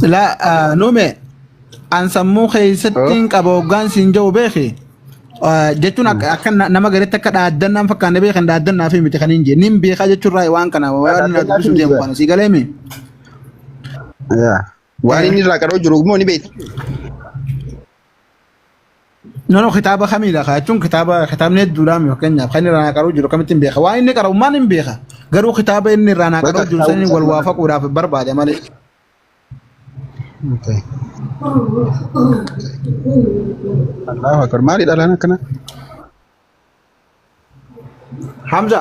Silaa ah, nume an sammuu keessatti hin qaba hoggaan siin ja'u beeki. Ah, Jechuun akka akka na- nama garitti akka dhaaddannaan fakkaanne beekan dhaaddannaa fi miti kan hin jenne. Nin beekaa jechuun raayii waan kana waan na Dhaaddannaa dubbisuu fi deemu miti. kana sii galee mi? Yaa. Waan inni irraa qaroo jiru immoo ni beekta. Nono kitaaba kamiidha kaa jechuun kitaaba kitaabni hedduudhaan fakkeenyaaf kan inni irraa qaruu jiru kamittiin beeka waan inni qara'u maal hin beeka garuu kitaaba inni irraa naa qaruu jiru saniin wal waafaquudhaaf barbaade malee. Allahu akbar maali dhalaan akkana? Hamza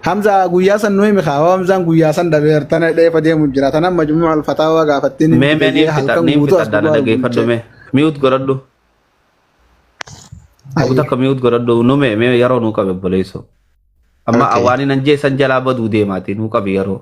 Hamza guyyaa san nu himi kaa Hamzaan guyyaa san dhabeer tana dheefa deemu jira tana majmuu alfataawaa gaafattiin mee mee niin fita niin fita dana dhageeffadhu mee miut godhadhu abu takka miut godhadhu nu mee mee yeroo nuu qabe obboleesso amma awaanii nan jeessan jalaa baduu deemaati nuu qabi yeroo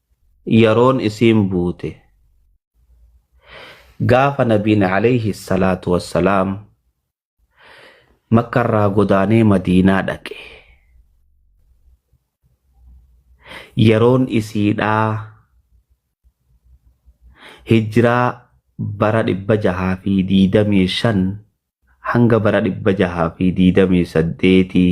yaroon isiin buute gaafa nabiin alayhi salaatu wassalaam makka irraa godaanee madiinaa dhaqe yaroon isiidhaa hijraa bara dhibba jahaa fi diidamii shan hanga bara dhibba jahaa fi diidamii saddeetii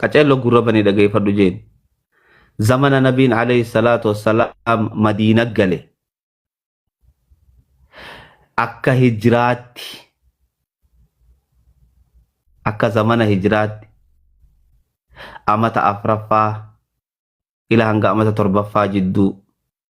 qaceello gurra banii dhageeffadhu jeen zamana nabiin alayhi salaatu wassalaam madiina gale akka hijraatti akka zamana hijraatti amata afraffaa ila hanga amata torbaffaa jidduu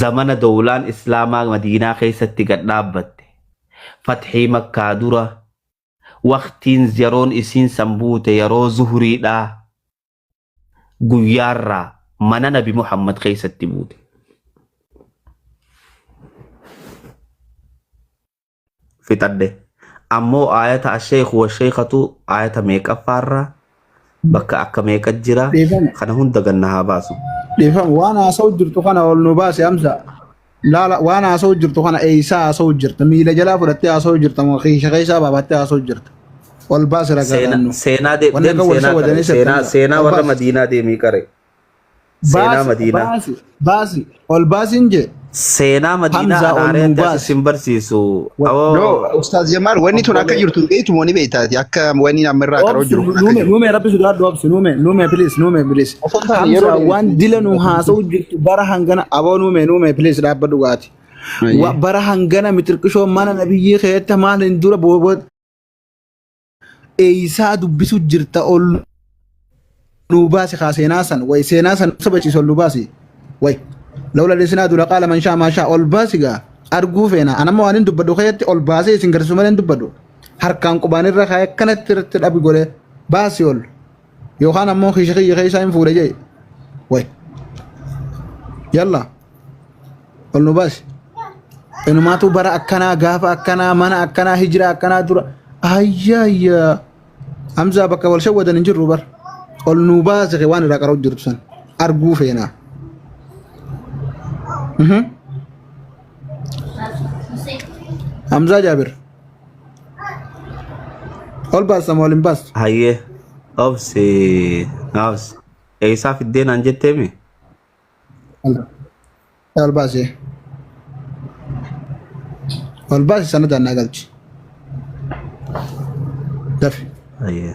zamana dowlaan islaamaa madiinaa keessatti gad dhaabbatte fathii makkaa dura waqtiin yeroon isiin san buute yeroo zuhuriidhaa guyyaarraa mana nabi muhammad keessatti buute fixadhe ammoo aayata asheekhu washeekhatu aayata meeqaffaarra bakka akka meeqa jira Dhiifama. kana hunda ganna haa baasu Dhiifama waan haasa'u jirtu kana ol nu baase amsa. Laala waan haasa'u jirtu kana eeysaa haasa'u jirta. Miila jalaa fudhattee haasa'u jirta. moo Kiisha keessaa baafattee haasa'u jirta. Ol baase ragaa seenaa laannu. seenaa de- Wanni deem akka wal seenaa qare sawwadanii seenaa sirreessan. seenaa Ol warra baase. madiinaa deemii qare Seenaa Baasi, Madiinaa. baasi, baasi, ol baasiin jee. Seenaa Madiinaa Hamzaa ol nuu Anaariyaatti baasi. asitti hin barsiisu. No, Awoo. Ustaaz Jamaal, wanni tun akka jirtu hin beektu moo ni beektaati? Akka wanni amma irraa qaroo Obsi, jiru kun akka nuume, jiru. nuume, rabbi sodaadhu, obsi, nuume, nuume, please, nuume, please. Osoo hin taane yeroo Hamza, dheeraa waan itti dila nu haasa'u jirtu bara hangana, aboo nuume, nuume, please, dhaabba dhugaati. Wa- Bara hangana mitirqishoo mana nabiyyii keetta maal hin dura booboo Eeysaa dubbisu jirta ol nuu baasi kaa seenaa san way seenaa san sabachiisu ol nuu baasi way lawla lisinaa dula qaala man shaa maa shaa ol baasi gaa arguu feena anamma waan hin dubbadhu keetti ol baasee isin garsiisu malee hin dubbadhu harkaan qubaan irra kaayee akkanatti irratti dhabi godhee baasi ol. yookaan ammoo kiisha kiyya keessaa hin fuudhe jee way yalla ol nu baasi inumaatu bara akkanaa gaafa akkanaa mana akkanaa hijira akkanaa dura ayyaayya hamzaa bakka wal shawwadan hin jirru bar ol nu baasi kee waan irraa qara'u jirtu san arguu feenaa Mhm. Hamzaa Jaabir. Ol baasta moo ol hin baastu? Hayyee obsi naabs eessaa fiddee naan jetteemi? Ol baasi. Ol baasi sana daannaa galchi. Dafi. Hayyee.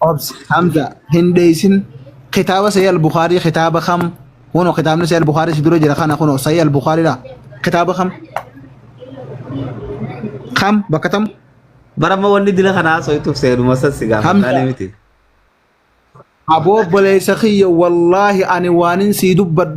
Obs Hamza hin dheessin kitaaba Sahih al-Bukhari kitaaba kam kuno kitaabni Sahih al-Bukhari si dura jira kana kuno Sahih al-Bukhari dha kitaaba kam kam bakka tam Barama wanni dila kana haasoftuuf seenuma san si gaafadha Hamza. ani miti. aboo obboleessa kiyya wallaahi ani waanin sii dubbadhu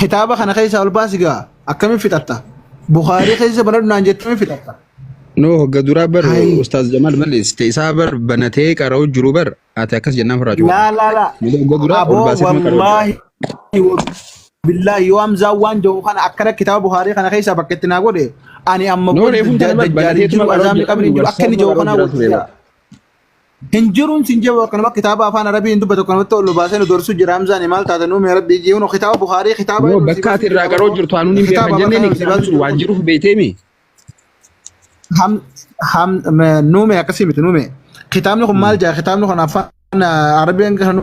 kitaaba kana keessaa ol baasi gaa akkamiin fixatta bukaarii keessa banadhu naan jettee akkamiin fixatta No, hogga duraa bar Hai. Ustaaz Jamaal balleessite isaa bar banatee qara'u jiru bar ati akkas jennaan furraa jiru. laa laa laa Malee hogga duraa ol aboo baasee nama qara'u. wallaahi billaahi yoo hamzaa waan jedhu kana akkana kitaaba bukaarii kana keessaa bakka itti naa godhe ani amma No, booda reefuun kana bar dajjaaliin banateetuma jiru qara'u azaabni jira. qabri hin jiru akka inni jedhu kanaa wal jira. Hin jiruun sin jedhu akkanuma kitaaba afaan arabii hin dubbatu akkanumatti ol nu baasee nu dorsu jira hamzaani maal taatan uumee rabbii jii huno kitaaba buhaarii kitaaba Yoo bakka ati irraa qaroo jirtu anuun hin beekan jenneen kitaabni sun waan jiruuf beeteemi. ham ham nuume akkasii miti nuume kitaabni kun maal jaa kitaabni kun afaan arabiin kan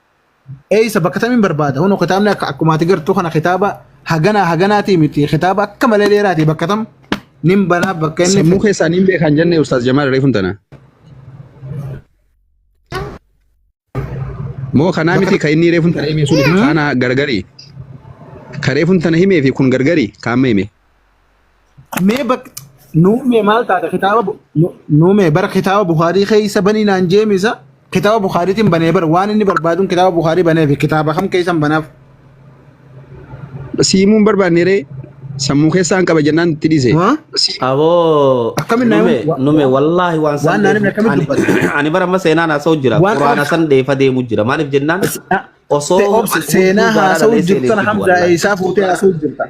Eeysa bakka tamiin barbaada kunoo kitaabni akka akkuma ati gartuu kana kitaaba haganaa haganaatii miti kitaaba akka malee dheeraati bakka tam nin banaa bakka inni sammuu keessaa nin beekaan jennee ustaaz Jamaal reefun tana. Moo kanaa miti kan inni reefun tana himee sun kaana gargari. Kan reefun tana himee fi kun gargari kaamma himee. mee bak nuumee maal taata kitaaba bu- nu- nuumee bara kitaaba bukaarii keessa banii naan jeemisa kitaaba bukaariitiin banee bara waan inni barbaaduun kitaaba bukaarii banee fi kitaaba kam keessan banaaf siimuun barbaanne ree sammuu keessaan qaba jennaan itti dhiise. Waa? Aboo Akkamiin na- nume wa- nume wallaahi waan san waan naan himne deemu- akkamitti ani- dubbata? ani bara amma seenaan haasa'u jira Waan quraana kana- san deefa deemu jira maaliif jennaan osoo Se- obsi- seenaa haasa'uu jirtan hamdaa eessaa fuutee haasa'uu jirtan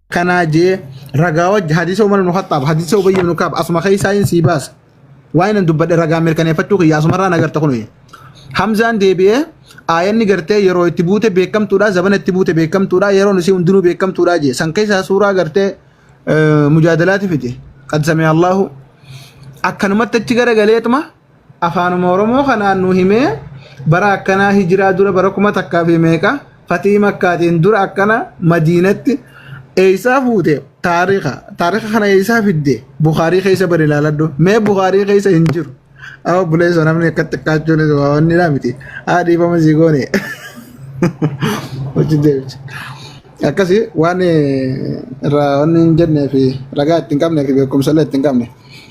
kanaa jee ragaa wajji hadiisa umar ibnu khaxaab hadiisa ubayy ibnu kaab asuma keessaa hin sii baasa waan inni dubbadhe ragaa mirkaneeffachuu kiyya asumarraa nagarta kun hamzaan deebi'ee aayanni gartee yeroo itti buute beekamtuudha zabana itti buute beekamtuudha yeroon isii hundinuu beekamtuudha jee san keessaa suuraa gartee mujaadalaati fide qad samee allahu akkanumatti achi garagaleetuma Afaanuma Oromoo kanaan nu himee bara akkanaa hijiraa dura bara kuma takkaa fi meeqa fatii makkaatiin dura akkana madiinatti eeysaa fuute taarika taarika kana eeysaa fidde bukaarii keessa bari ilaaladhu mee bukaarii keessa hin jiru haa obboleessa namni akka xiqqaachuunis waa wanni dhaa miti haa dhiifama sii goone hojii deebicha akkasii waan irraa wanni hin jennee fi ragaa ittiin qabnee fi beekumsa illee ittiin qabne.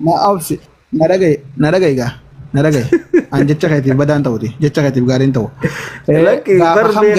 Na obsi. Na dhagaye. Na dhagaye gaa. Na dhagaye. An jecha keetiif badaan ta'uti. Jecha keetiif gaariin ta'u. Eh, Lakki gaafa barbee- kam